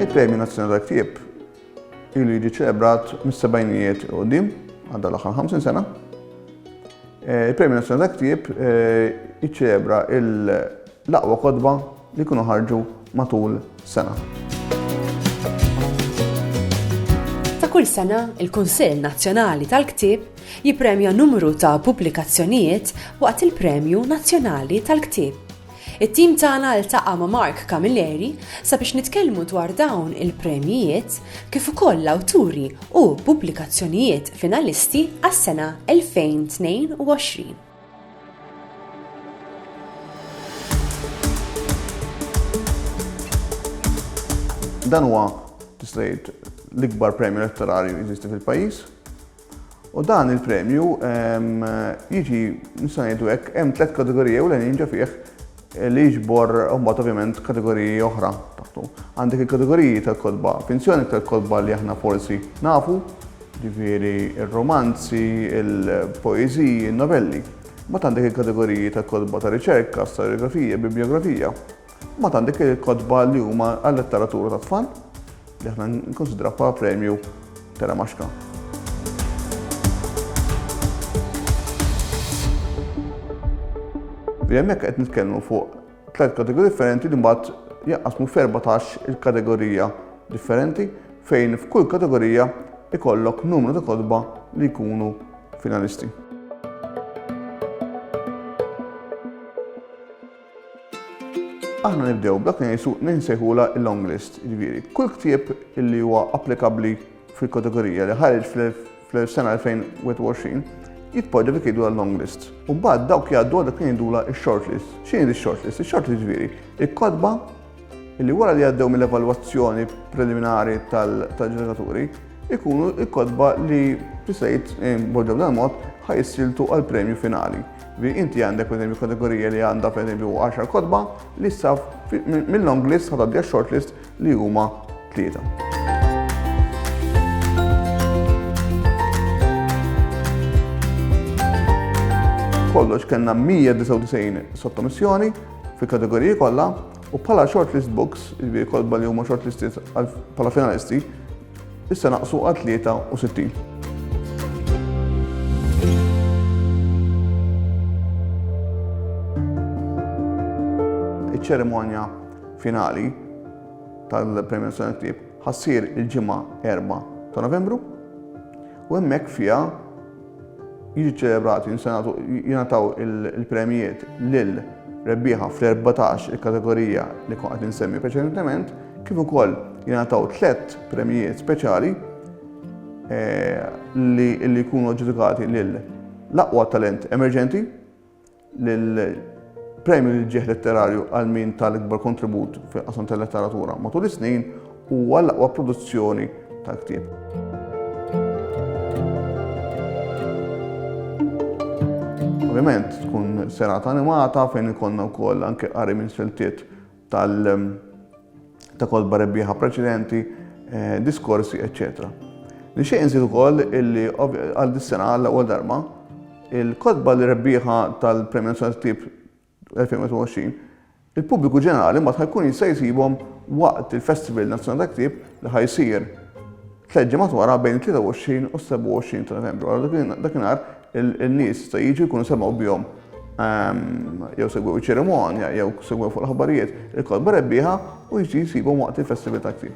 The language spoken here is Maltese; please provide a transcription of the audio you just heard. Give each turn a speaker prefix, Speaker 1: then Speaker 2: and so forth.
Speaker 1: Il-Premju Nazzjonali tal-Ktieb ilu jiġi ċelebrat mis-sebgħinijiet u qudiem għadda l-aħħar 50 sena. Eh, Il-Premju Nazzjonali tal-Ktieb eh, jiċċelebra L-aqwa kotba li jkunu ħarġu matul sena.
Speaker 2: Ta' kull sena, il-Kunsill Nazzjonali tal-Ktieb jippremja numru ta' pubblikazzjonijiet waqt il-Premju Nazzjonali tal-Ktieb. It-tim tagħna ltaqa' ma' Mark Camilleri sabiex nitkellmu dwar dawn il-premjijiet kif ukoll l-awturi u pubblikazzjonijiet finalisti għas-sena 2022.
Speaker 1: Dan huwa tista' l-ikbar premju letterarju jeżisti fil-pajjiż. U dan il-premju jiġi nista' ngħidu hekk hemm tliet kategoriji u l-għanin ġa fih li jiġbor mbagħad ovvjament kategoriji oħra taħtu. Għandek il-kategoriji tal-kotba finzjoni tal-kotba li aħna forsi nafu, ġifieri ir-romanzi, il-poeżiji, in-novelli. Ma għandek il-kategoriji tal-kotba ta' riċerka, storjografija, bibliografija. Ma għandek il-kotba li huma għal-letteratura tat-tfal. li aħna nikkunsidraw bħala premju ta' Ramaxka. Li hemmhekk qed nitkellmu fuq tliet kategoriji differenti li mbagħad jaqqasmu f'14 il-kategorija differenti fejn f'kull kategorija ikollok numru ta' kodba li jkunu finalisti. Aħna nibdew b'dak li ngħisu ninsejħula l-long list, jiġifieri kull ktieb li huwa applikabbli fil-kategorija li ħareġ fl-sena 2021 jitpoġġa dik jgħidu long list. U mbagħad dawk jgħaddu għal dak li jgħidula x-short list. X'inhi x-short list? Ix-short list jiġifieri il-kotba li wara li għaddew mill-evalwazzjoni preliminari tal-ġeneraturi ikunu il-kodba li tisajt eh, boġġaw dan mod ħajsiltu għal premju finali. Vi inti għandek per esempio kategorija li għandha per esempio 10 kodba li issa mill-long list ħadadja short list li huma tlieta. kollox kellna 199 sottomissjoni fil-kategoriji kollha u bħala shortlist books, jiġifieri kotba li huma shortlisted bħala finalisti, issa naqsu għal 63. ċerimonja finali tal-Premju Nazzjonali Ktieb ħassir il-ġimgħa 4 ta' Novembru u hemmhekk fiha Jiġu ċċelebrati, jinsenatu, jingħataw il-premjiet lil rebbieħa fl-14 il-kategorija li kont qed insemmi preċedentement, kif ukoll jingħataw tliet premjiet speċjali eh, li jkunu ġudikati lil l-aqwa talent emerġenti, L-premju li ġieħ letterarju għal min ta' l-ikbar kontribut fil-qasam tal-letteratura matul is-snin huwa l-aqwa produzzjoni ta' ktieb. Ovvjament tkun serata animata fejn ikollna wkoll anke qari minn siltiet tal ta' kolba rebbieħa preċedenti, eh, diskorsi, eccetera. Nixtieq inżid ukoll illi għal dis-sena għal ewwel darba il-kotba li rebbieħa tal-Premju Nazzjonali 2020 il-pubbliku ġenerali mbagħad ħajkun jista' jsibhom waqt il-Festival Nazzjonali ta' Ktieb li ħajsir tleġġi matwara bejn 23 u 27 ta' Novembru. Għal dakinhar In-nies se jiġu jkunu semgħu bihom jew segwew iċ-ċerimonja jew segwew fuq l-aħbarijiet il-kotba rebbieħa u jiġu jsibhom waqt il-festival tat-tjieb.